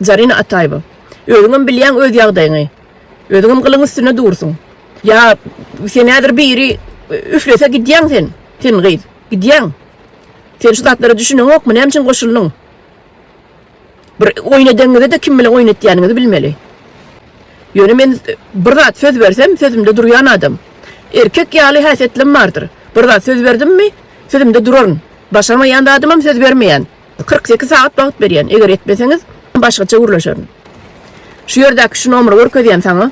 Zarina Ataýewa. Özüňem bilýäň öz ýagdaýyňy. Özüňem gylyň üstünde dursuň. Ýa sen häzir biri üflese gidýäň sen. Sen gyz. Gidýäň. Sen şu zatlara düşüneňokmy? Näme üçin goşuldyň? Bir oýun edeňizde-de kim bilen oýun etýäniňizi bilmeli. Ýöne men bir zat söz bersem, sözümde durýan adam. Erkek ýaly häsiýetlem bardyr. Bir zat söz berdimmi, sözümde duraryn. Başarmaýan zadymam söz bermeýän. Kyrk sekiz sagat wagt berýän, eger etmeseňiz, başgaça gürleşerin. Şu ýerdäki şu nomeri görkezýän saňa.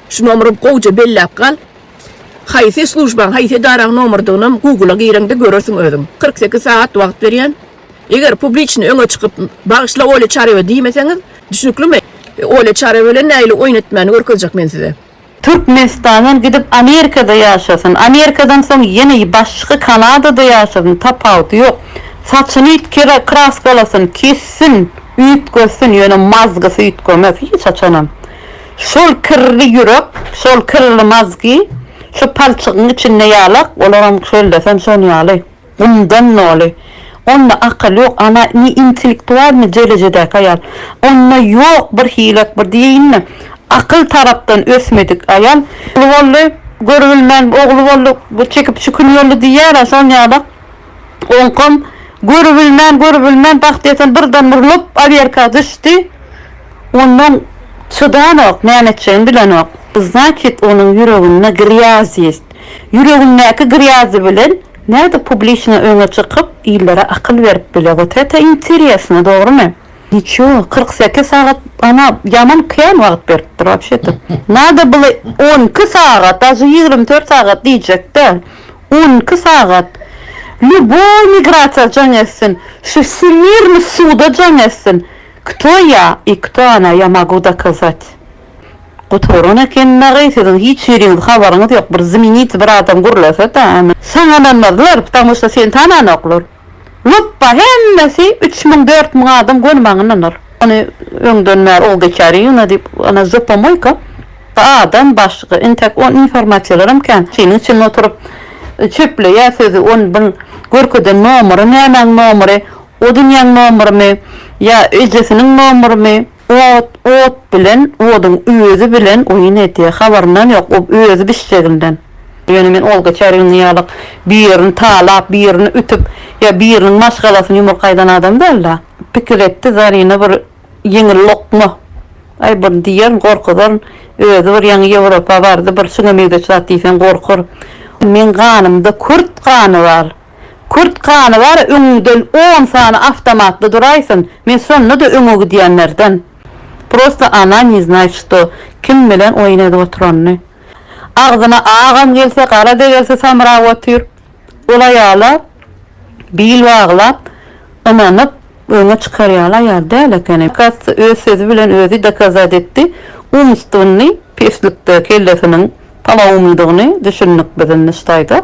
Şu nomeri gowja belläp gal. Haýsy slujbaň, haýsy edaraň nomerdiginem Google-a gireňde görersiň özüň. Kyrk sekiz sagat wagt berýän. Eger publiçny öňe çykyp, bagyşla Olýa Çarewa diýmeseňiz, düşnüklimi? Olýa Çarewa bilen nähili oýun etmäni görkezjek men size. Türkmenistandan gidip Amerikada ýaşasyn, Amerikadan soň ýene başga Kanadada ýaşasyn, tapawudy ýok. Saçyny üýtgerä kraskalasyn, kessin, üýtgetsin, ýöne mazgysy üýtgemez hiç haçanam. Şol kirli ýürek, şol kirli mazgy şu palçygyň içinde ýalak, olaram şöllesem şon ýaly. Ondan doly. Onda akyl ýok, ana ne intellektualnyý derejedäki aýal. Onda ýok bir hilat bir diýeýinmi. Akyl tarapdan ösmedik aýal. Ogly boldy, görübilmän ogly boldy, çekip çükün boldy diýýärä şol ýaly. Oňkam görübilmän, görübilmän bagt ýeten birdenbir lop aberka düşdi. Ondan çydanok, näme etjegini bilenok. Znaçit onuň ýüreginde grýazyýst. Ýüregindäki grýazy bilen. Nädip publiçno öňe çykyp illere akyl berip bile wot ete interesno dogrymy. Niço kyrk sekiz sagat ana ýaman kän wagt beripdir wapşe ete nada bile on iki sagat daže ýigrimi dört sagat diýjek däl on iki sagat lýuboý migrasiýa jaň etsin şu wsýmirny suda jaň etsin kto ýa i kto ona ýa magu dokazat. Gutaran eken dagy siziň hiç ýeriňiz habaryňyz ýok bir zminiti bir adam gurlasada ony sanananmazlar ptamuşda seni tananoklar lupba hemmesi üç müň dört müň adam göni maňa ynanar ony öňden bäri o geçäri ýuna diýip ana zopomoýka adam başga intäk o informasiýalaram kän şiniň üçin oturyp çöpleýä sözi on byn görkeden nomary nämäň nomary o dünýäň nomrymy ýa ejesiniň nomrymy. Ot, ot bilen, oduň özi bilen oýun edýär. Habarynam ýok, o özi bişseginden. Ýöne men ol geçer ýylyňky ýalyk birini talap, birini ütüp, ýa biriniň maşgalasyny ýumruk aýdan adam däl-de. Pikir etdi Zarina bir ýeňil lokma. Aý, bir diýerin, gorkuzaryn. Özi bir ýaňy Ýewropa bardy, bir şuňa meňzeş zat diýseň gorkar. Meň ganymda kürt gany bar. Kürt gany bar öňüňden on sany awtomatly duraýsyn men şondada öňe gidýänlerden. Prosta ona ne znat şto kim bilen oýun edip oturanyny. Agzyna agam gelse garada gelse samrap otyr. Ol aýala bil baglap ynanyp öňe çykar ýaly aýal däl ekeni. Kas öz sözi bilen özi dokazat etdi umstwnny peslikde kellesiniň palawumlydygyny düşündik biz indi ştaýda.